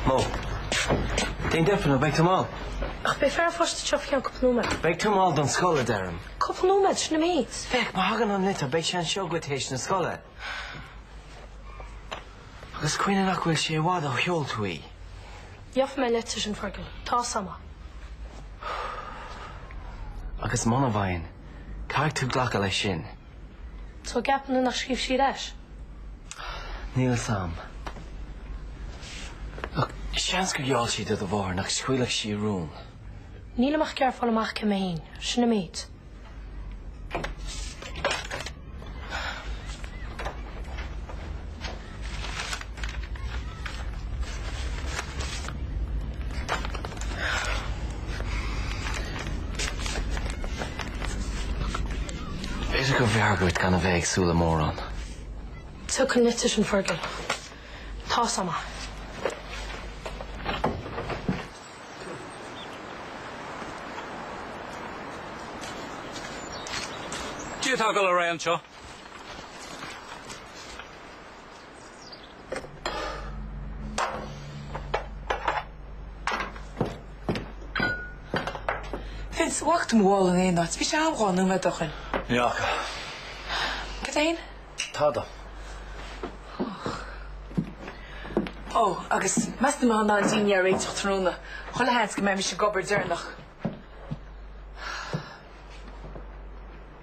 Mo. Déan deifir nó beidh tú mall. Ach beidh fear an phoist anseo faoi cheann cúpla nóiméad. Beidh tú mall don scoil, a deirim. Cúpla nóiméad, sin an méid. Féach, má thagann an litir beidh sé anseo dhuit théis na scoile. Agus cuimhnigh nach bhfuil sé i bhfad ó sheol tú í. Gheobhaidh mé an litir sin, Fergal. Tá 's am é. Agus muna bhfaigheann, caithfidh tú glacadh leis sin. So an gceapann tú nach scríobhfaidh sí ar ais? Níl 's am. Look, seans gur gheall sí do do mháthair nach scaoilfeadh sí a rún. Nílim ach ag iarraidh fáil amach cé mé fhéin. Sin an méid. B'fhéidir go mb'fhearr duit gan a bheith ag súil le mórán. Tiocfaidh an litir sin, Fergal. Tá 's am é. Cad é atá ag dul ar aghaidh anseo. Vince, an bhfaca tú mo mhála in aon áit, bhí sé agam nóiméad ó shin. Ní fhaca. Cad é fhéin? Tada. Och. Ó, agus meas tú an mbeifeá in ann an dinnéar a réiteach tráthnóna chuile sheans go mbeidh mise ag obair deireanach.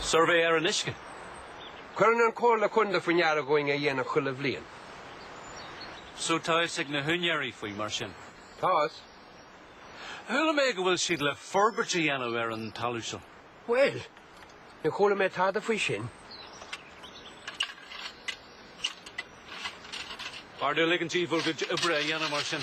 Suirbhé ar an uisce. Cuireann an Chomhairle Contae faoi ndeara dhúinn é a dhéanamh chuile bhliain. So tá's ag na húinéirí faoi, mar sin? Tá's. Chuala mé go bhfuil siad le forbairt a dhéanamh ar an talamh seo. Bhuel, níor chuala mé tada faoi sin. B'fhearr dom ligint díbh bhur gcuid oibre a dhéanamh mar sin.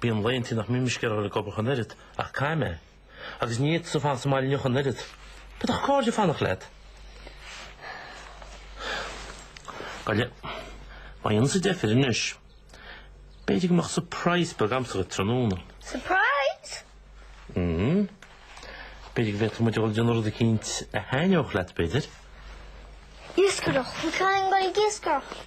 Bíonn laethantaí nach mbíonn mise ag iarraidh a dhul ag obair ach an oiread, ach caithfidh mé. Agus ní fhéadfaidh tusa fanacht sa mbaile inniu ach an oiread. B'fhéadfadh cairde fanacht leat. Gabh i leith, má dhéanann tusa deifir anois, b'fhéidir go mbeadh surprise beag agamsa dhuit tráthnóna. Surprise? Mm. B'fhéidir go bhféadfadh muid a dhul ag déanamh rud eicínt a thaitneodh leat, b'fhéidir. Iascaireacht. An caitheann go ag iascaireacht?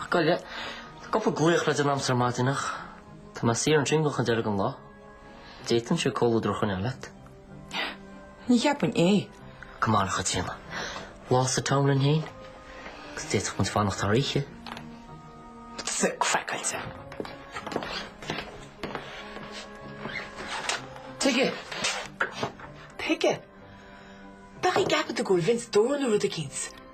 Ach gabh i leith, cúpla glaoch le déanamh a'm sa maidin ach, tá mé saor ansin go dtí deireadh an lá. D'fhéadfainnse comhluadar a choinneáil leat. Ní cheapfainn é. Come on, a Chaitríona. Lá sa town linn féin, agus d'fhéadfadh muid fanacht thar oíche. Tá sé craiceáilte. Tuige, tuige, bheifeá ag ceapadh go bhfuil Vince dúr nó rud éicint.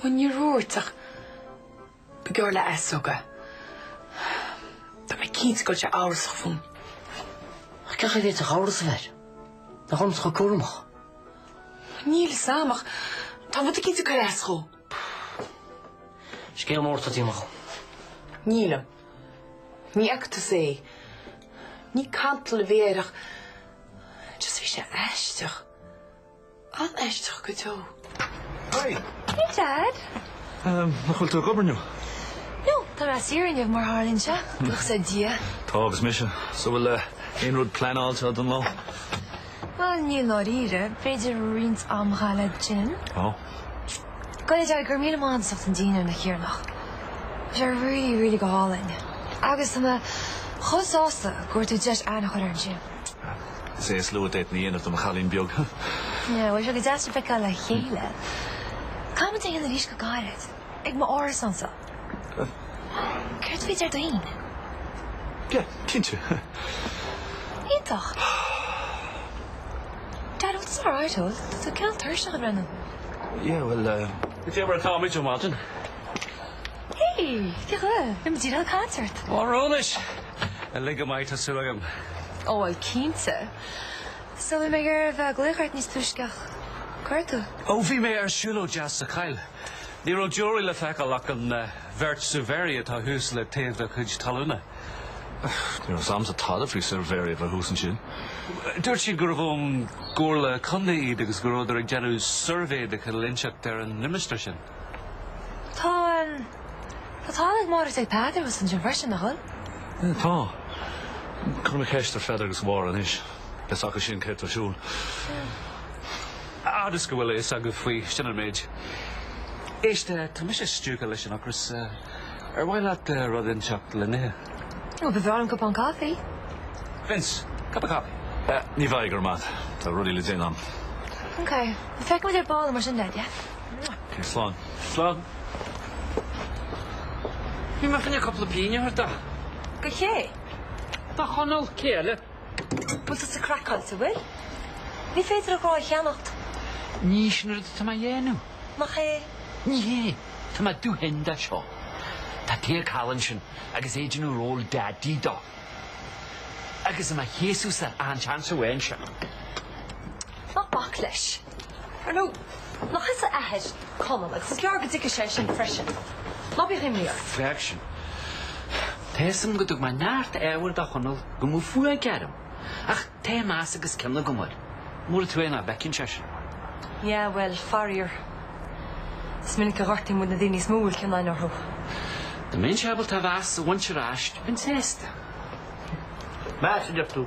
When I arú aréir, chomh gar leis, ó God. Tá mé cinnte go raibh sé amhrasach fúm. Ach cén chaoi a bhféadfadh amhras a bheith air? Nach muid atá chomh cúramach? Níl 'fhios a'm ach tá rud éicint ag cur as dhó. Scéal mór atá déanta a'd. Nílim. Ní fhaca tusa é. Ní cantal a bhí air ach just bhí sé aisteach. An-aisteach go deo. Hi! Hey Dad! Nach bhfuil tú ag obair inniu? No, tá mé saor inniu mar tharlaíonn sé, buíochas le Dia. Tá agus mise. So bhfuil aon rud pleanáilte don lá? Bhuel, níl i ndáiríre. B'fhéidir roinnt ama a chaitheamh sa gym. Oh. Gabh i leith, Dad, go raibh míle maith a'd as ucht an dinnéar an oíche cheana. Bhí sé really, really go hálainn. Agus tá mé chomh sásta go bhfuair tú deis aithne a chur ar Angie. Is é is lú a d'fhéadfainn a dhéanamh do mo chailín beag. Bhuel, bhí sé go deas sibh a fheiceáil le chéile. Caithfidh muid é a dhéanamh arís go gairid, ag m'árasánsa. Céard faoi Déardaoin? Yeah, cinnte. Iontach. Dad, bhfuil tú all right, ó? Tá tú cineál tuirseach ag breathnú. Yeah, well, uh... tá mé ó mhaidin. Hey! Cén chaoi a bhfuil? Bhí muid ag an concert! Ó, anois! An-leaid, go maith, tá súil agam? Ó, bhuel, cinnte. So, bhí mé le bheith ag glaoch ort níos túisce ach cá raibh tú? Ó, bhí mé ar siúlóid deas sa choill. Ní raibh deoraí le feiceáil ach an bheirt suirbhéirí atá thuas le taobh do chuid talúna. Ní raibh 's 'amsa tada faoi suirbhéirí a bheith thuas ansin. Dúirt siad gurbh ón gComhairle Contae iad agus go rabhadar ag déanamh suirbhé de chineál inteacht ar an limistéar sin. Tá, tá talamh ag Máire agus Peadar thuas ansin freisin, nach bhfuil? Sea, tá. Cuirfidh mé ceist ar Pheadar agus Mháire anois, beidh 's acu sin céard atá ar siúl. Fhad is go bhfuil a fhios agaibh faoi, sin an méid. Éist, tá mise stiúgtha leis an ocras. Ar mhaith leat rud inteacht le n-ithe? Ó, ba bhreá liom cupán caife. Vince, cupán caife? Ní bheidh, go raibh maith a'd, tá rudaí le déanamh a'm. Ok, feicfidh mé ar ball thú mar sin de, a Jeff. Céad slán. Slán. Bhí mé ag cuimhneamh cúpla pingin a thabhairt dó. Do ché? Do Chonall, cé eile. Bhfuil tusa craiceáilte, an bhfuil? Ní féidir a ghrá a cheannacht. Ní shin an rud atá mé a dhéanamh. Nach é? Ní hé. Tá mé dubh tinn dá seo. Tá Tadhg thall ansin agus é ag déanamh ról Daidí dó. Agus é do mo chéasadhsa achan seans a bhfaigheann sé. Ná bac leis. Ar ndóigh, nach tusa athair Chonaill, agus is gearr go dtuigfidh sé sin freisin. Ná bíodh imní ort. Bheadh sin. Tá fhios a'm go dtug mé neart ábhair do Chonall go mbeadh fuath aige orm, ach tá meas agus cion agam air. Mór an trua é nach bhfeiceann sé sin. Yeah, well, faraor. Is minic a ghortaíonn muid na daoine is mó a bhfuil cion againn orthu. Dá mbeinnse ábalta a mheas a bhaint ar ais, bheinn sásta. Meas, a deir tú?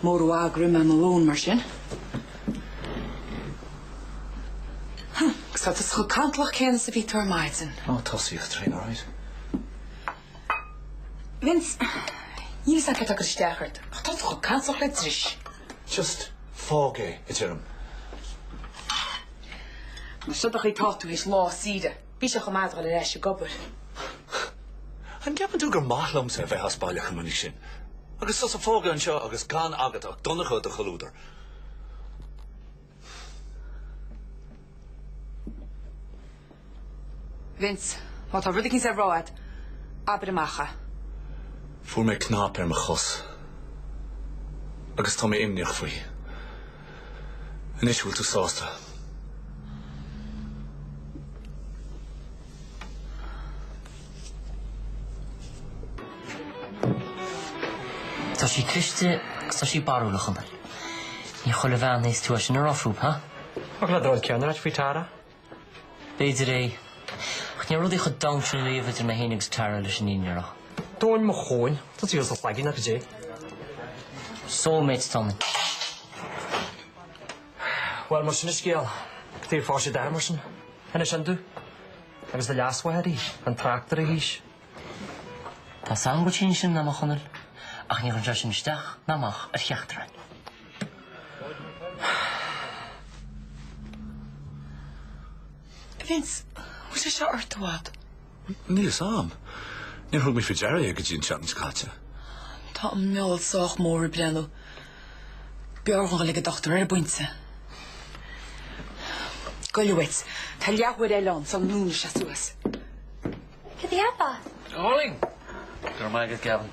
Níor mhaith leat greim lóin mar sin. Huh. Agus tá tusa chomh cantalach céanna is a bhí tú ar maidin. Ó, tuirseach ón traein, all right. Vince, níl fhios a'm céard atá ag cur isteach ort, ach tá tú chomh cantalach le dris. Just fág é, a deirim. Más seo an chaoi atá tú th'éis lá saoire. Bhí sé chomh maith a dhul ar ais ag obair. An gceapann tú gur maith liomsa a bheith as baile chomh minic sin, agus tusa fágtha anseo agus gan agat ach Donncha de chomhluadar? Vince, má tá rud éigin le rá agat, abair amach é. Fuair mé cnap ar mo chos agus tá mé imníoch faoi. Anois bhfuil tú sásta? Tá sí cliste agus tá sí barúlach you know. Ní chuile bhean a fhéadfas tú é sin a rá fúthu, ha? Chuala mé an rud céanna uait faoi Tara? B'fhéidir é. Ach ní raibh rudaí chomh domhain sin riamh idir mé féin agus Tara leis an fhírinne a rá. Tóin mo chóin. Tá tusa as do chloigeann ach goidé. Soul mates atá muid. Bhuel, más sin an scéal, tuige ar phós sí d'athair mar sin? Anois an dú? Agus do leasmháthair í. Gan trácht ar a haois. Tá fhios a'm go bhfuil sí níos sine ná mé, a Chonaill, ach ní chuireann sé sin isteach ná amach ar cheachtar againn. Vince, bhfuil sé seo ort i bhfad? Níl fhios a'm. Níor thug mé faoi deara é go dtí an tseachtain seo caite. Tá an meall sách mór ag breathnú. B'fhearr dhúinn dhul ag an dochtúir ar an bpointe. Goile uait. Tá leathuair eile ann sula ndúnfaidh sé suas. Cad é ab ea? Darling! Go raibh maith agat, Gavin.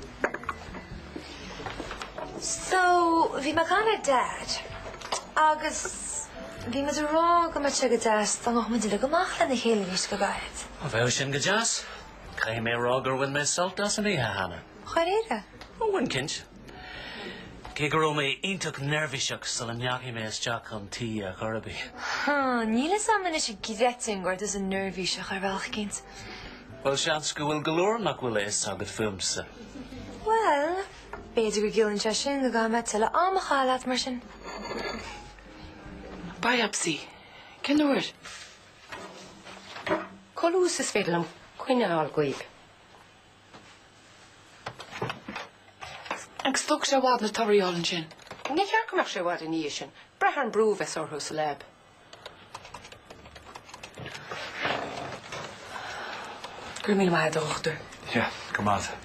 So, bhí mé ag caint le Dad, agus bhí muid ag rá go mbeadh sé go deas dá ngabhfadh muid uilig amach lena chéile arís go gairid. Á, bheadh sin go deas? Caithfidh mé a rá gur bhain mé sult as an oíche cheana. Dáiríre? Ó, bhain, cinnte. Cé go raibh mé iontach neirbhíseach sula ndeachaigh mé isteach chun tí ar chor ar bith. Ha, níl fhios a'm anois an gcreidfinn go raibh tusa neirbhíseach ar bhealach éicint. Bhuel, seans go bhfuil go leor nach bhfuil a fhios agat fúmsa. Bhuel, b'fhéidir go gciallaíonn sé sin go gcaithfidh mé tuilleadh ama a chaitheamh leat, mar sin. Biopsy? Cén uair? Chomh luath is is féidir liom coinne a fháil dhaoib. Agus an dtógfaidh sé i bhfad na torthaí a fháil ansin. Níor cheart go mbeadh sé i bhfad ina dhiaidh sin. Ag brath ar an brú a bheas orthu sa lab. Go raibh míle maith agat, a Dhochtúir. Yeah, go raibh maith agat.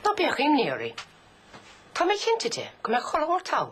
Ná bíodh imní oraibh. Tá mé cinnte de go mbeidh chuile shórt all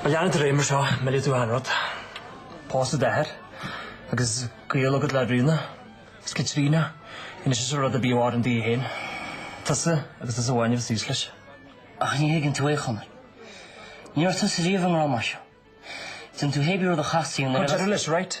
Má leanann tú ar aghaidh mar seo, millfidh tú achan rud, pósadh d'athar, agus gaol agat le Ríona, is Caitríona, inis is rud ar bith a mhaireann daoibh féin, tusa agus tusa amháin a bheas thíos leis. Ach ní thuigeann tú é, a Chonaill. Ní raibh tusa riamh i ngrá mar seo. Déan tú cibé rud a theastaíonn uait ach cuir deireadh leis, right?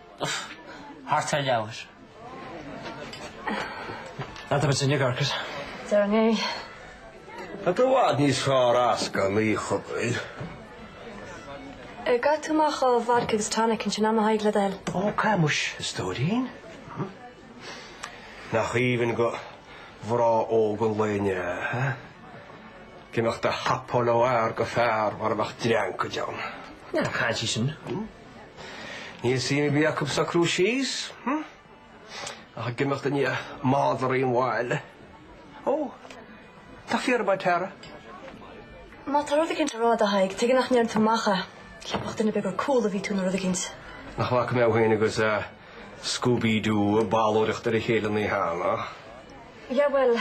Thart ar leathuair. An dtugann sin Yorker? Deir an é. Tá tú i bhfad níos fearr as gan í, Chopail. An gcaithfidh tú amach ó Vodka agus Tonic ansin a'm, a Thaidhg, le do thoil? Ó, gan amhras, a stóirín. Nach aoibhinn do ghrá óg an lae inniu, hé? Ag imeacht ag hopáil ó fhear go fear mar a bheadh dreancaid ann? Ná caint é sin. Níl suim ar bith acu sa crew cheese, hm? Ach ag imeacht i ndiaidh madraí an bhaile. Ó, tá fíorbheag ar t'aire. Má tá rud éicint le rá a'd, a Thaidhg, tuige nach ndeir tú amach é? Cheapfadh duine ar bith gur ag ól a bhí tú nó rud éicint. Nach bhfaca mé thú féin agus Scooby-Doo ag balóireacht ar a chéile an oíche cheana? Yeah, bhuel,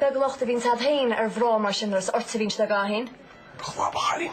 beag locht a bhíonns a'd féin ar ghrá mar sin nuair is ort a bhíonns le gá féin. Clobhairín.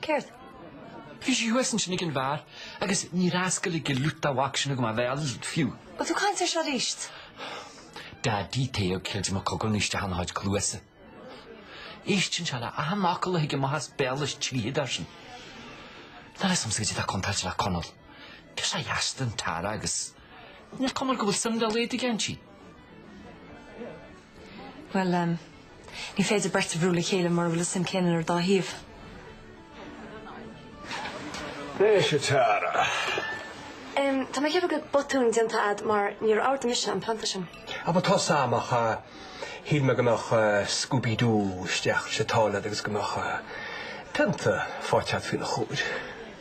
Céard? Bhí sí thuas ansin ag an bheár agus níor fhoscail an liúdar de mhac sin agam a bhéal, fiú. Bhfuil tú ag caint air seo arís? Daidí taobh céad de mo chogar anois de thar na háit cluasa. Éisteann sé le achan fhocal a thig amach as béal is tríthi, dar sin. Níl a fhios agamsa caidé atá contráilte le Conall. Girseach dheas atá in Tara agus. Níl cuma air go bhfuil suim dá laghad aige inti. Bhuel, ní féidir beirt a bhrú le chéile mura bhfuil an suim céanna ar an dá thaobh. Anois, a Tara. Tá mé ag ceapadh go bhfuil botún déanta a'd mar níor ordaigh mise an pionta sin. Á bhuel, tá a fhios a'm ach shíl mé go mbeadh Scooby Doo isteach sna sála a'd agus go mbeadh pionta faighte a'd faoina chomhair.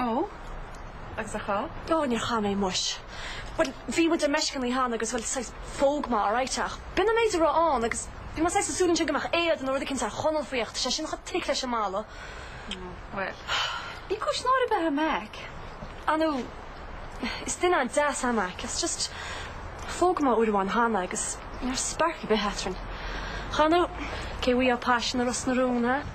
Ó, agus ar chaith? Ó, níor chaith mé, muis. Bhuel, bhí muid ar meisce an lá cheana agus, bhuel, saghas phóg muid, alright, ach b'in an méid a raibh ann agus bhí mé saghas ag súil ansin go mbeadh éad nó rud eicínt ar Chonall faoi ach tá sé sin chomh thick leis an mballa. Bhuel, ní cúis náire bheith ar Mac. Á nó, is duine an-deas é Mac, is just phóg muid uair amháin cheana agus ní raibh spark ar bith eadrainn. You know, cá bhfuil an paisean i Ros na Rún, ha?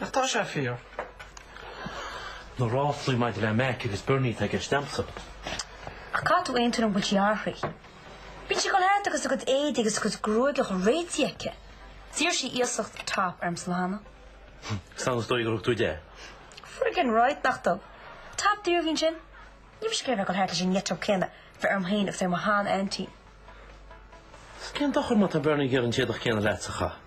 Ach tá sé fíor. na ráflaí maidir le Mac agus Bernie atá i gceist a'msa. Ach caithfidh tú aontú liom go bhfuil sí athraithe. Bíonn sí ag goil thart agus a cuid éadaí agus a cuid gruaige réitithe aici. D'iarr sí iasacht Top ormsa an lá cheana. Sea, is dóigh gur thug tú di. Friggin right nach dtug. Top daor a bhí ansin. Níl mise ag iarraidh a dhul thart leis an éadach céanna a bheith orm féin agus ar mo shean-aintín. Cén dochar má tá Bernie ag iarraidh an t-éadach céanna leatsa a chaitheamh?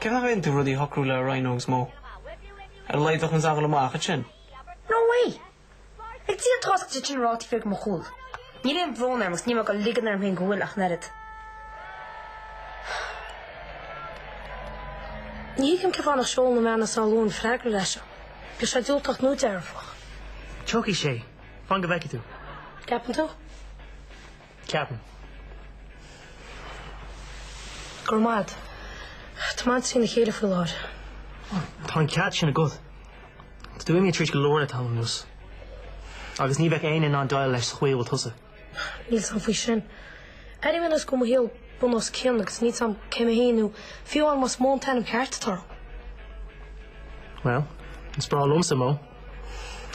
Cén fáth nach ndéanann tú rudaí a shocrú le Ríona agus Mo? Ar a laghad bheifeá in ann a ghabháil amach ansin. No way! Ag Dia atá a fhios céard tá siad ag rá taobh thiar de mo chúl. Níl aon bhrón orm agus níl mé ag goil ag ligean orm féin go bhfuil ach an oiread. Ní thuigim cén fáth nach seol na meáin is á lua an freagra ar ais ann. Bíodh sé diúltach nó dearfach. Tiocfaidh sé. Fan go bhfeicfidh tú. Ceapann tú? Ceapaim. Go raibh maith agat. Tá m'intinn trína chéile faoi láthair. Ó, tá an cead sin agat. Tá tú imithe tríd go leor le tamall anuas. Agus ní bheadh éinne in ann déileáil leis sa chaoi a bhfuil tusa. Níl a fhios a'm faoi sin. Airím anois go bhfuil mo shaol bun os cionn agus níl a fhios a'm cé mé féin nó fiú amháin más Mo an t-ainm ceart atá orm. Bhuel, is breá liomsa Mo.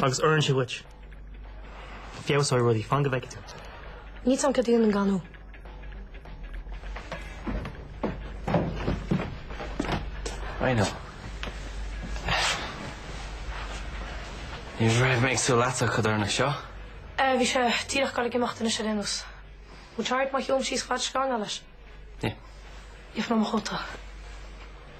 Agus oireann sé dhuit. Feabhsóidh rudaí fan go bhfeice tú. Níl a fhios a'm cad a dhéanfainn gan thú. I know. Ní raibh mé ag súil leatsa an codarsnacht seo. Eh, bhí sé díreach ag goil ag imeacht anois, ar aon nós. Mbeidh tú ceart má théim síos ag an scannán leis. Yeah. Gheobhaidh mé mo chóta.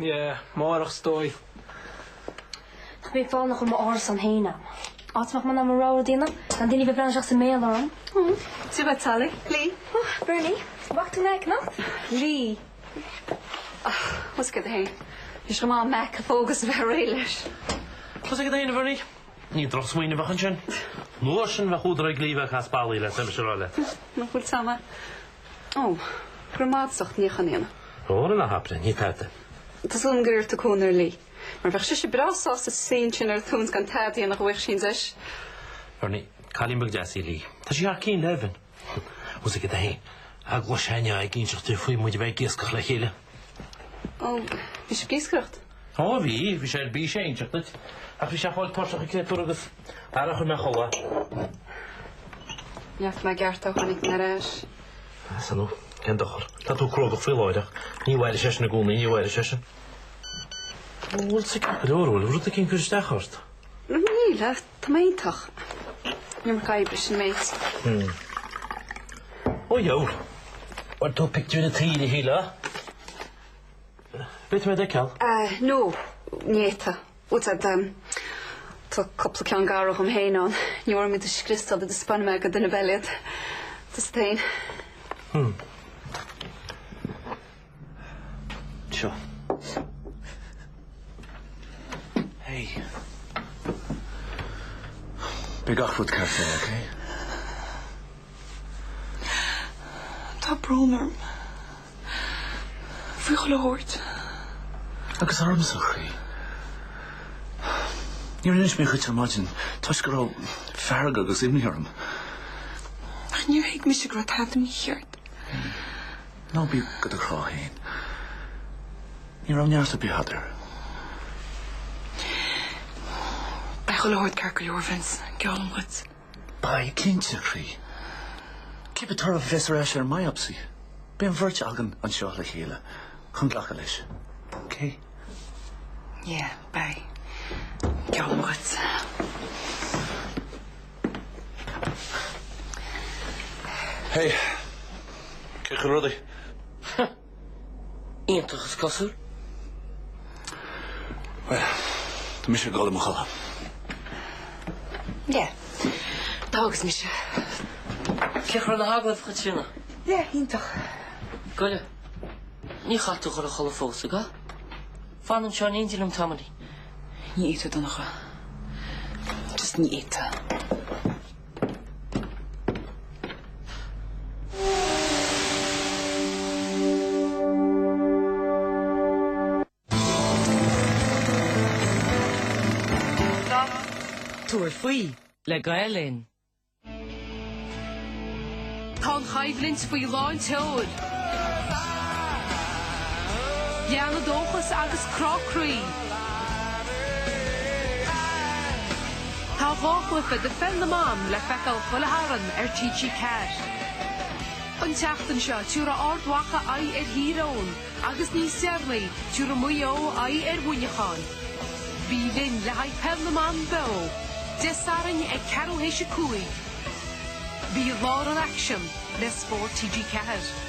Yeah, máireach is dóigh. Tá mé ag fanacht i m'árasán fhéin am. Áit a mbeidh mé in ann mo rogha rud a dhéanamh, gan daoine a bheith ag breathnú isteach sa mbéal orm. Cibé bheith teallaigh, Lee. Oh, Bernie, bheadh tú in aice anocht? Lee. Ach, tá a fhios agat fhéin. Bhí sé go maith Mac a phógas a bheith réidh leis. Tá a fhios agat fhéin, a Bhernie. Ní drochsmaoineamh a bheadh ansin. An uair sin bheadh údar ag Lee a bheith ag caitheamh spallaí le Seamus a rá le. Nach bhfuil teama Ó, go raibh maith agat as ucht an níochán a dhéanamh. Óra ná habair é, ní tada é. Tá súil agam gur iarr tú cúnamh ar Lee. Mar bheadh sise breá sásta suí ansin ar a tóin 's gan tada a dhéanamh dá bhfaigheadh sí an deis. Berni, cailín beag deas í Lee. Tá sí thar cinn le Evan. Tá a fhios agat fhéin. Agus an raibh sé ag inseacht duit faoi muid a bheith ag iascach le chéile. Ó, bhí sibh ag iascaireacht? Ó, bhí, bhí sé ar bís é a inseacht duit. Ach bhí sé chomh tuirseach an créatúr agus aire a chuir mé a chodladh. Neartaigh mé gearrtá tháinig mé ar ais. San ó, cén dochar? Tá tú cruógach faoi láthair ach ní mhairfidh sé sin i gcónaí, ní mhairfidh sé sin. Bhfuil tú ceart go leor? Bhfuil rud eicínt ag cur isteach ort? Níl, ach Tá mé iontach. An iomarca oibre, sin an méid. Hm. Ó dheor. Bhain tú pictiúir na tíre thí leo? An féidir liom iad a fheiceáil? Ah, no. Néata. Tá a fhios agat. Tá cúpla ceann garbh dhíom féin ann. Ní mór dom iad a scriosadh sula dtaispeánfaidh mé do dhuine ar bith eile iad. Tá a fhios agat féin. Hm. Seo. Hey. Beidh gach rud ceart air, okay? Tá brón orm faoi chuile shórt. Agus ormsa, a chroí. Níor inis mé dhuit ar maidin toisc go raibh fearg agus imní orm. Ach níor thuig mise go raibh tada mícheart. Ná bí go do chrá fhéin. Ní raibh neart ar bith agat air. Beidh chuile shórt ceart go leor, Vince, geallaim dhuit. Beidh cinnte, a chroí. Cibé toradh a bheas ar ais ar an mbiopsy, beidh an bheirt againn anseo le chéile chun glacadh leis, okay? Yeah, beidh. Geallaim dhuit. Hé, cé chaoi bhfuil rudaí? Ha! Iontach is cosúil. Bhuel, tá mise ag dul i mo chodladh. Yeah, tá agus mise. Cé chaoi raibh na hagallaimh, a Chaitríona? Yeah, iontach. Goile, ní chaithfidh tú a ghoil a chodladh fós, an gcaithfidh? Fan anseo in éindí liom tamaillín. Ní fhéadfadh, a Dhonncha. Just ní fhéadfadh. Tabhair faoi le Gael Linn. Tá an choimhlint faoi lán seoil. Ceannas, dóchas agus crá croí. Tá dhá chluiche de Pheil na mBan le feiceáil chuile Shatharn ar TG4. An tseachtain seo, tabharfaidh Ard Mhacha aghaidh ar Thír Eoghain. agus níos deireanaí tabharfaidh Maigh Eo aghaidh ar Mhuineachán. Bí linn le haghaidh Peil na mBan Beo, Dé Sathairn ag ceathrú théis a cúig. Bí i lár an aicsin le Spórt TG4.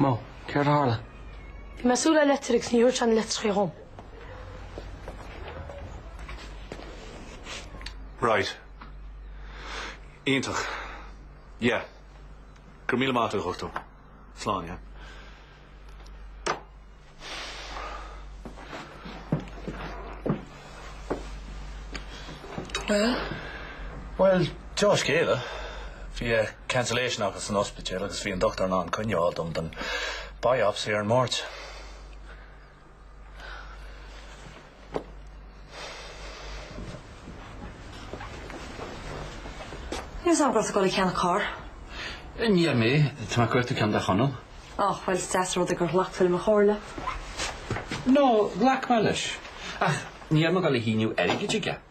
Mo, céard a tharla? Bhí mé súil le litir agus ní dúirt sé an litir faoi dhom. Right. Iontach. Yeah. Gur míle maith tú chuchtú. Slán, yeah. Bhuel, dea-scéala, bhí cancellation acu san ospidéal agus bhí an dochtúir in ann coinne a fháil dom don biopsy ar an Máirt. Ní raibh a fhios agam go raibh tú ag dul ag ceannach carr. Níor mé. Tá mé ag cuartú ceann do Chonall. Á, bhuel, is deas an rud é gur ghlac tú le mo chomhairle. Nó, ghlac mé leis. Ach níl mé ag dul a shíneadh airgid chuige.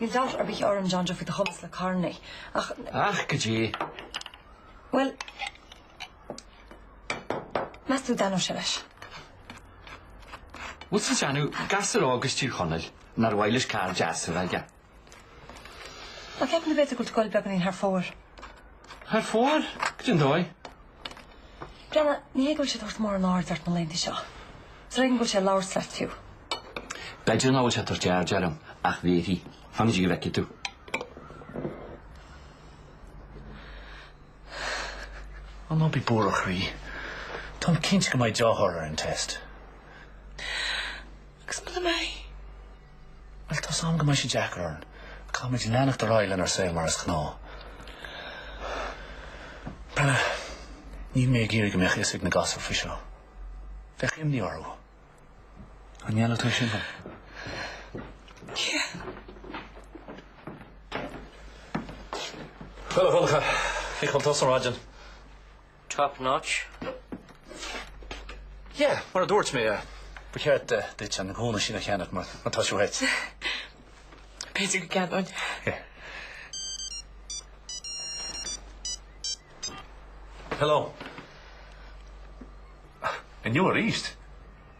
Níl dabht ar bith orm, John Joe, faoi do chumas le carranna, ach na. Ach goidé. Bhuel, meas tú an ndéanfadh sé leis? Bhuel, sea, déanfadh, gasúr óg as Tír Chonaill, nár mhaith leis carr deas a bheith aige. Ach ceapaim go bhféadfadh go bhfuil sé ag dul beagáinín thar fóir. Thar fóir? Goidé an dóigh? Brenna, ní hé go bhfuil sé ag tabhairt mórán aird ort na laethanta seo. Is ar éigean go bhfuil sé ag labhairt leat fiú. B'fhéidir nach bhfuil sé ag tabhairt aird orm, ach beidh. Fan go bhfeicfidh tú. Ó ná bí buartha, a chroí. Táim cinnte go mbeidh dea-thoradh ar an test. Agus muna mbeidh? Bhuel, tá's a'm go mbeidh sé deacair orainn, ach caithfimid leanacht ar aghaidh lenár saol mar is gnáth. Brenna, níl mé ag iarraidh go mbeadh a fhios ag na gasúir faoi seo. Bheadh imní orthu. An ndéanfaidh tú sin? Yeah. Bhuel, a Dhonncha, cén chaoi a bhfuil tusa ar maidin. Top notch. Yeah, mar a dúirt mé, ba cheart duit na gamhna sin a cheannach mar má tá siad uait. B'fhéidir go gceannóinn. Hello. Inniu arís.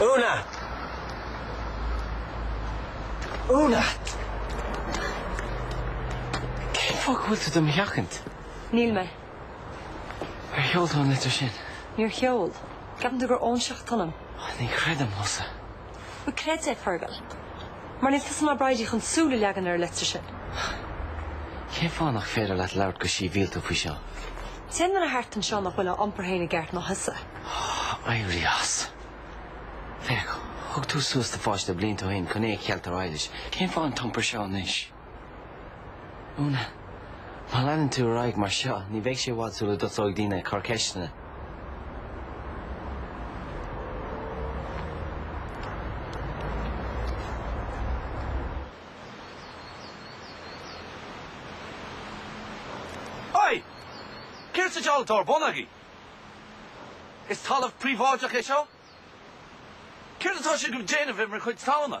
Úna! Úna! Cén fáth go bhfuil tú do mo sheachaint? Níl mé. Ar sheol tú an litir sin? Níor sheol. Ceapann tú gur óinseach atá ionam. Ní chreidim thusa. Bhuel, creid é, Fergal, mar níl tusa ná Bridie chun súil a leagan ar an litir sin. Cén fáth nach féidir leat labhairt go síbhialta faoi seo? An t-aon duine thart anseo nach bhfuil á iompar féin i gceart ná thusa. Éirí as. Féach, thug tú suas do pháiste blianta ó shin chun é a cheilt ar Eilís. Cén fáth an t-iompar seo anois? Úna, má leanann tú ar aghaidh mar seo, ní bheidh sé i bhfad sula dtosóidh daoine ag cur ceisteanna. Hei! Céard sa diabhal atá ar bun agaí? Is talamh príobháideach é seo. Céard atá sibh ag déanamh ar mo chuid talúna?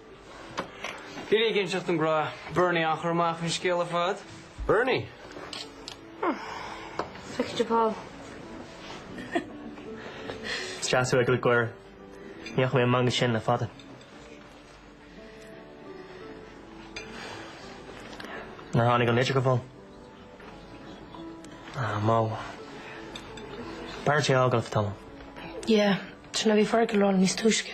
Bhí sé ag inseacht dom go raibh Bernie curtha amach faoin scéal ar fad. Bernie! Feicfidh mé thú ar ball. Is deas thú a fheiceáil ag gáire. Ní fhaca mé an meangadh sin le fada. Nár tháinig an litir go fóill? Ah, Mo. B'fhearr duit é a fhágáil ar feadh tamaill. Yeah, sin a bhí Fergal ag rá liom níos túisce.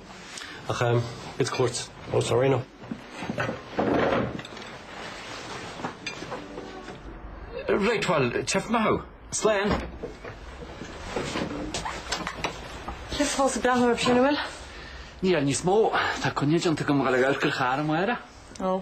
Ach ehm, it's courts, oh sorry now. Right, bhuel, teip maith thú. Slán! Is fós ag breathnú ar Pionawhill? Níl, níos mó. Tá coinne déanta agam dhul ag amharc ar charr amárach. Ó.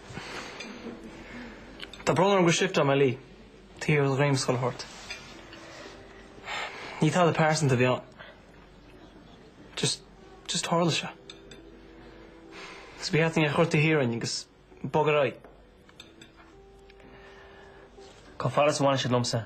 Tá brón orm go sifteá mé leí, taobh ar dhruim scoile shórt. Ní tada pearsanta a bhí ann. Just, just tharla sé. Agus bhí Aithne ag chuir tae thiar a'inn agus bogearraí. Cá fada is a bhain siad liomsa?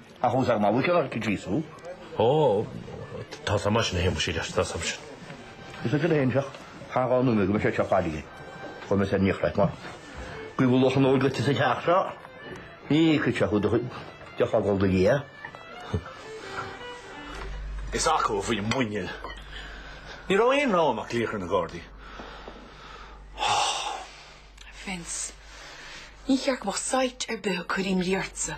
Ach ós ag mallacht ar ag gríosú. Ó, tá's agam é sin a Shéamais, tá's agam é sin. Is ansin a théim isteach thar dhá nóiméad go mbeidh sé seo faillithe. Chuir mé san nioclait mar go bhfuil luach an óil duitse sa teach seo. Ní fheicfidh sé thú de chogadh do Dhia. Is acu a bhí muiníl. Ní raibh aon rogha agam ach glaoch ar na Gardaí. Ó! Vince, ní cheart go mbeadh site ar bith ag cur imní ortsa.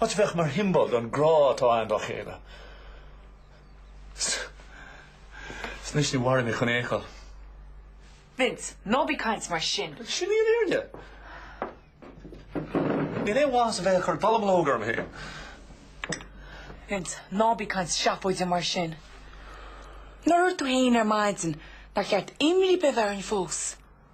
áit a bheadh mar shiombail den ghrá atá againn dá chéile. Is anois ní mhaireann mé chun é a fheiceáil. Vince, ná bí ag caint mar sin. Sin í an fhírinne. Níl aon mhaith as a bheith ag cur dallamullóg orm féin. Vince, ná bí ag caint seafóide mar sin. Nár dhúirt tú féin ar maidin nár cheart imní a bheith orainn fós.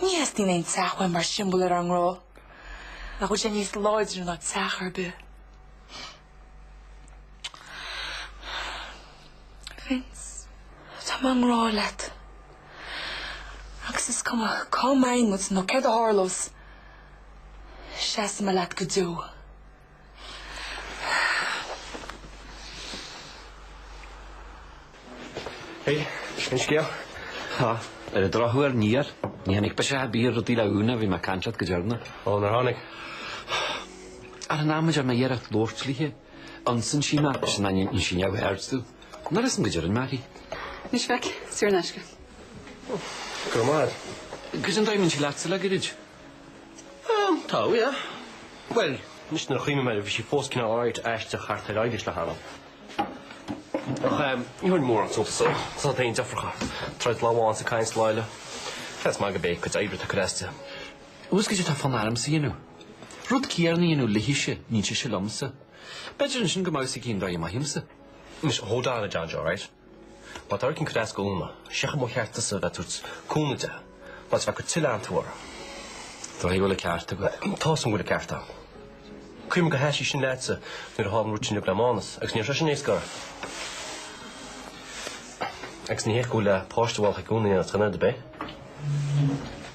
Ní theastaíonn aon teach uaim mar shiombail ar ár ngrá. Nach bhfuil sé níos láidre ná teach ar bith. Vince, tá mé i ngrá leat. Agus is cuma cá mbeidh muid nó céard a tharlós. Seasfaidh mé leat go deo. Hey, aon scéal? Tá. Ar an drochuair níor, níor tháinig biseach ar bith ar rudaí le hÚna ó bhí mé ag caint leat go deireanach. Ó, nár tháinig? Ar an am a deir mé iarracht labhairt léi, ionsaíonn sí mé, sin nó déanann sí neamhaird díom. Nach bhfuil a fhios agam go dianmhaith é. Anois féach, saor in aisce. Go raibh maith agat. Cad é an dóigh a mbíonn sí leatsa le gairid? Ehm, tá, ó yeah. Bhuel, anois nuair a chuimhnim air, bhí sí fós cineál áirid aisteach thart ar aghaidh leis le hAnna. Ach ehm, níor thug mé mórán suntais dó. Tá's agat féin deirfiúracha, troid lá amháin is ag caint lá eile. Seans maith gurb é a cuid oibre atá ag cur as di. An bhfuil a fhios agat cad é atá fonn ormsa a dhéanamh. Rud céanna a dhéanamh léithise a níos sise liomsa. B'fhéidir ansin go mbeadh a fhios aici an dóigh a mothaímsa. Anois, hold on a John Joe, right? Má táirgeann cuid a's gúna, seicheamh mo cheart tusa a bheith tabhairt cúnamh de, ná teacht go tuilleadh ann tú orm. Tá a bhfuil ceart agat. Tá's an bhfuil a ceart ann. Cuir me go haisi sin leatsa nuair a thálann rud sin le Mánas, agus níor sé sin éasca ort. Agus ní héasca le páiste bhálacha gúna dhéanamh, chan ar do bith?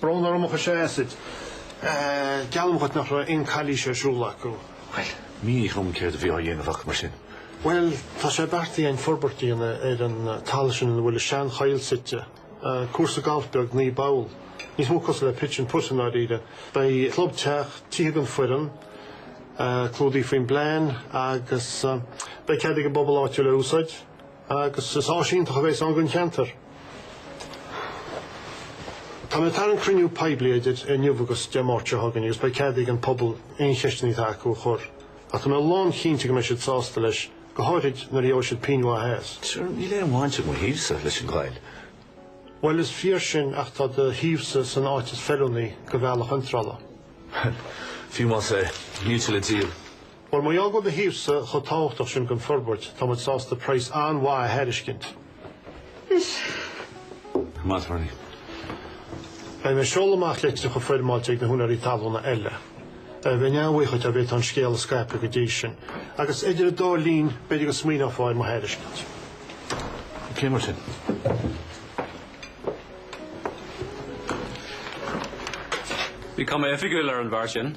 Brón orm a chois a Acid. Geallaim dhuit nach raibh aon chalaois ar siúl acu. Bhuel, mínigh dhom céard a bhí á dhéanamh acu mar sin. Bhuel, tá sé beartaithe againn forbairt a dhéanamh ar an talamh sin ina bhfuil an seanchoill suite. Cúrsa gailf beag naoi bpoll. Níos mó cosúil le pitch and putt i ndáiríre. Beidh clubtheach, tithe don fhoireann, clúdaithe faoin bplean, agus beidh cead ag an bpobal áitiúil é a úsáid. agus is áis iontach a bheas ann don cheantar. Tá mé ag tarraingt cruinniú poiblí idir inniu agus Dé Máirt seo chugainn agus beidh cead ag an bpobal aon cheisteanna atá acu a chur ach tá mé lán chinnte go mbeidh siad sásta leis, go háirid nuair a gheobhaidh siad pingin mhaith as. Sure, níl aon bhaint ag mo shuíomhsa leis an gcoill. Bhuel, is fíor sin ach tá do shuíomhsa san áit is feiliúnaí, do bhealach iontrála. Bhuel, fiú más ea, níl sé le díol. Bhuel, mar gheall go bhfuil do shuíomhsa chomh tábhachtach sin don fhorbairt, tá muid sásta praghas an-mhaith a thairiscint. Is maith orainn. Beidh mé ag seoladh amach litreacha foirmeáilte ag na húinéirí talúna eile. Bheinn an-bhuíoch dá bhféadfá an scéal a scaipeadh go dtí sin. Agus idir an dá linn, b'fhéidir go smaoineofá ar mo thairiscint. OK mar sin. Bhí cuma oifigiúil ar an bhfear sin.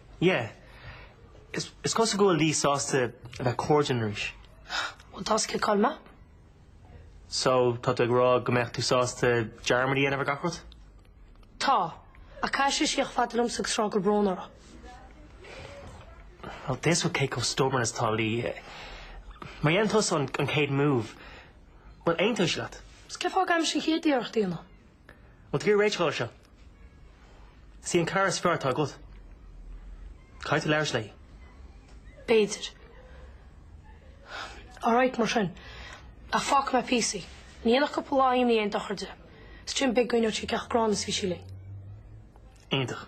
Yeah. Is is cosúil go bhfuil Lee sásta a bheith cairdiúil arís. Bhuel, tá scil cáil maith. So, tá tú ag rá go mbeadh tú sásta dearmad a dhéanamh ar gach rud? Tá. Ach caithfidh sí a theacht chomh fada liomsa agus a rá go bhfuil brón uirthi. Bhuel, tá a fhios agat cé chomh stubborn is atá Lee. Má dhéanann tusa an an chéad move, bhuel, aontóidh sí leat. Is cén fáth a gcaithimse an chéad iarracht a dhéanamh? Bhfuil tú ag iarraidh réiteach a fháil air seo. Is í an cara is fearr atá agat. Caithfidh tú labhairt léi. B'fhéidir. Alright, mar sin. Ach fágfaidh mé píosa í. Ní dhéanfadh cúpla lá imní aon dochar di. Is ansin b'fhéidir go n-aithneoidh sí cé chomh gránna is a bhí sí linn. Iontach.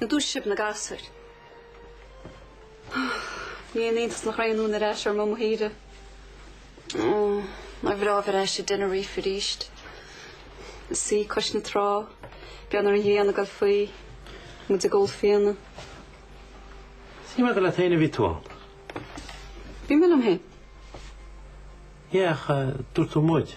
Nó dúiseoidh sibh na gasúir. Ní haon iontas nach raibh aon fhonn ar ais ar Mhumha Thíre. Nár bhreá a bheith ar ais i dTenerife arís. Ag suí cois na trá, ag breathnú ar an ngrian ag dul faoi, muid ag ól fíona. Shíl mé gur leat féin a bhí tú ann. Bhí mé liom féin. Yeah, ach dúirt tú muid.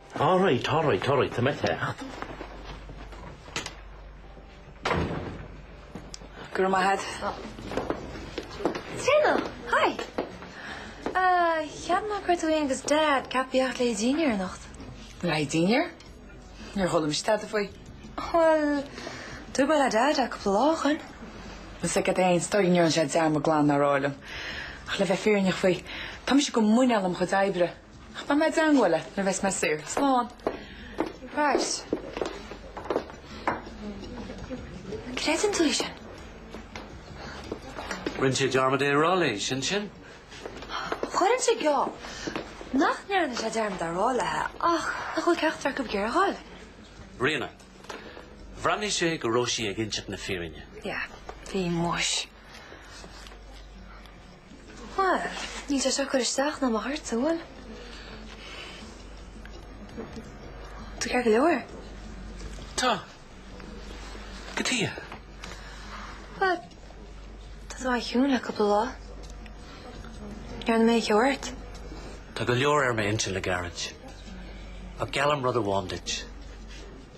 Alright, alright, alright, tá mé ag teacht. Go raibh maith agat. Stop. Ríona! Hi! Ah, cheap mé go raibh tú féin agus Dad ag tíocht le haghaidh dinnéir anocht. Lady Dean ar? Níor chuala mise tada faoi. Bhuel, dúirt mé le Dad é cúpla lá ó shoin. Is ag at aon is dóigh liom go ndearna sé dearmad glan é a rá liom. Ach le bheith fírinneach faoi, tá mise go muineál i mo chuid oibre. Ach beidh mé ag déanamh uile nuair a bheas mé saor. Slán. Right. An gcreideann tú é sin? Rinne sé dearmad é a rá léi, sin sin. Chuirfinnse geall nach ndearna sé dearmad é a rá léithe ach nach bhfuil ceachtar acu ag iarraidh a dhul. Ríona. Bhreathnaigh sé go raibh sí ag inseacht na fírinne. Yeah. Bhí muis. Bhuel, níl sé seo ag cur isteach ná amach ort, an bhfuil. Tú ceart go leor. Tá. Cad chuige. Bhuel, tá tú an-chiúin le cúpla lá. An ndearna mé aon cheo ort. Tá go leor ar m'intinn le gairid. Ach geallaim rud amháin duit.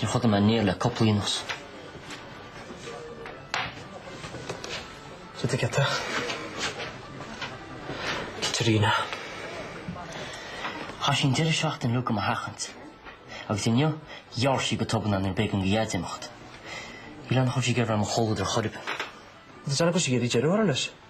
Níor chodail mé néal le cúpla oíche anuas. Sa tigheata. Caitríona. Chaith sí an deireadh seachtaine uilig do mo sheachaint. Agus inniu, d'éirigh sí go tobann nuair ab éigean do Dhaid imeacht. Sílim nach raibh sí ag iarraidh mo chomhluadar ar chor ar bith. Agus déanann go síoraí deireadh orainn leis.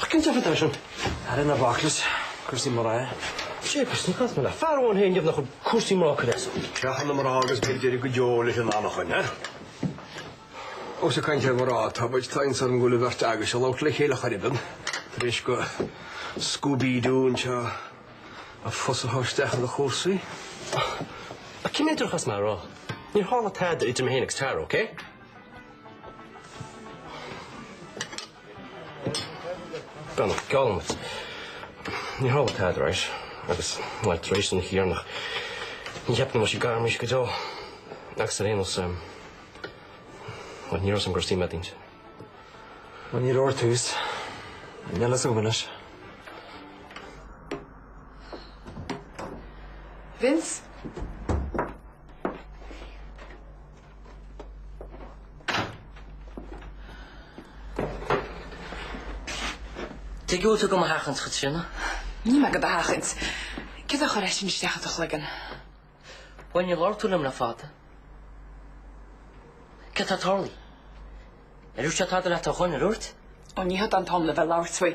Ach cén deifir dó sin? Ara, ná bac leis, cúrsaí mná. Jeepers, níor chas mé le fear amháin féin deimhneach ag cúrsaí mná cuid as. Creathadh na mná agus beidh deireadh go deo leis an anachain, ha? Ós ag caint ar mhná atá muid, tá iontas orm go bhfuil an bheirt agaibhse ag labhairt le chéile ar chor ar bith tar éis do Scooby-Doo anseo a phus a shá isteach ina chúrsaí. Ach cé mhéad uair a chaithfeas mé é a rá? Níor tharla tada idir mé féin agus Tara, okay? Gan an geall amuigh, ní hamháin atá tar éis, agus ná tar éis an thiarna, ní cheapfá go mbeadh sí gar arís go deo, agus ar aon nós, bhuel, ní rabhas im gcur suim eadaínt. Bhuel, ní leor tús an fhile a súgradh anois. Vince? Tuige a bhfuil tú do mo sheachaint, a Chaitríona. Níl mé do do sheachaint. Céard a chuir é sin isteach i do chloigeann? Bhuel, níor labhair tú liom le fada. Céard atá ag tarlú? Ar dhúirt sé tada leat ar dhuine ar uairt? Ó, ní hé seo an t-am le bheith ag labhairt faoi.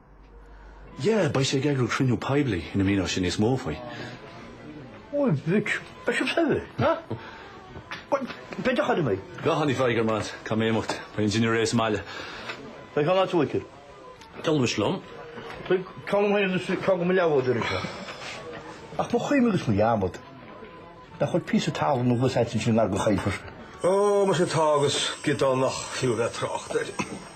Yeah, beidh sé ag eagrú cruinniú poiblí ina míneoidh sé níos mó faoi. Ó, a mhic, beidh sibh saibhir, ha? Bhuel, beidh a chur in aghaidh. Go hon, a Mheiger man, caithfidh mé imeacht? Beidh an dinnéar réidh sa mbaile. Beidh an áit uaithi. D'fhoghlaimis liom. Beidh, ceann amháin agus ceann do mo leathbhádóir anseo. Ach mo chuimhne agus mo dhearmad, nach bhfuil píosa talún nó dhó agat féin ansin i ngar go chaillfear. Ó, muise tá, agus giodán nach fiú a bheith ag trácht air.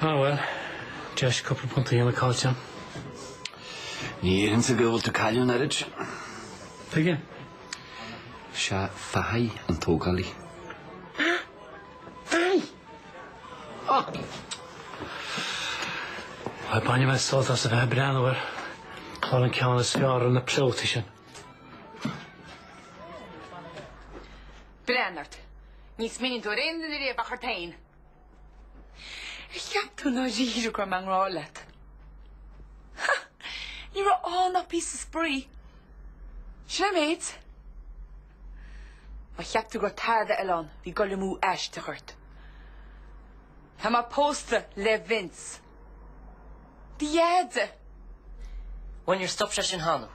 Ah well, deis cúpla punt a dhéanamh caillte. Ní airíonn sé go bhfuil tú ag cailliúint oiread. Tuige? Sé Fahy an tógálaí. Ah! Fahy! Ah! Bhuel, bainfidh mé sult as a bheith ag breathnú air ag fáil an ceann is fearr ar na pleotaí sin. Breathnaigh ort. Ní smaoiníonn tú ar aon duine riamh ach ort féin. Ar cheap tú dáiríre go raibh mé i ngrá leat? Ha! Ní raibh ann ach píosa spraoi. Sin é an méid. Má cheap tú go raibh tada eile ann, bhí goil amú aisteach ort. Tá mé pósta le Vince. Do dheaide. Bhuel níor stop sé sin cheana thú.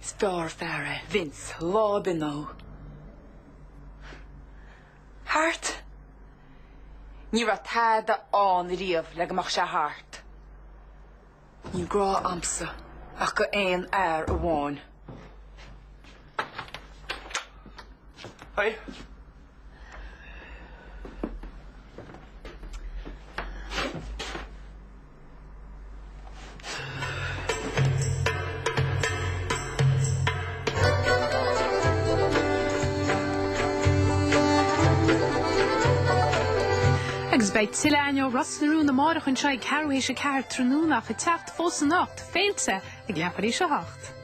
Is fearr an fear é Vince lá ar bith ná thú. Thart? Ní raibh tada ann riamh le go mbeadh sé thart. Níl grá agamsa ach do aon fhear amháin. Hey. Agus beidh tuilleadh againn ó Ros na Rún amárach anseo ag ceathrú tar éis a ceathair tráthnóna ach ag teacht fós anocht, Féilte ag leathuair tar éis a hocht.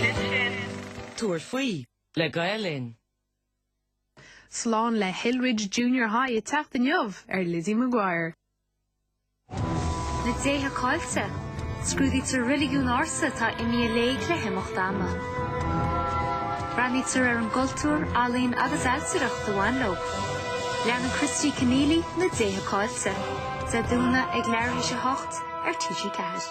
Sin sin. Tabhair faoi le Gael Linn. Slán le Hillridge Junior High ag teacht inniu ar Lizzie McGuire. Na déithe caillte. Scrúdaítear reiligiúin ársa atá imithe i léig le himeacht ama. Breathnaítear ar an gcultúr, ealaín agus ailtireacht a bhain leo. Leanann Christy Kenneally na déithe caillte. Dé Domhnaigh ag leathuair tar éis a 8 ar TG4.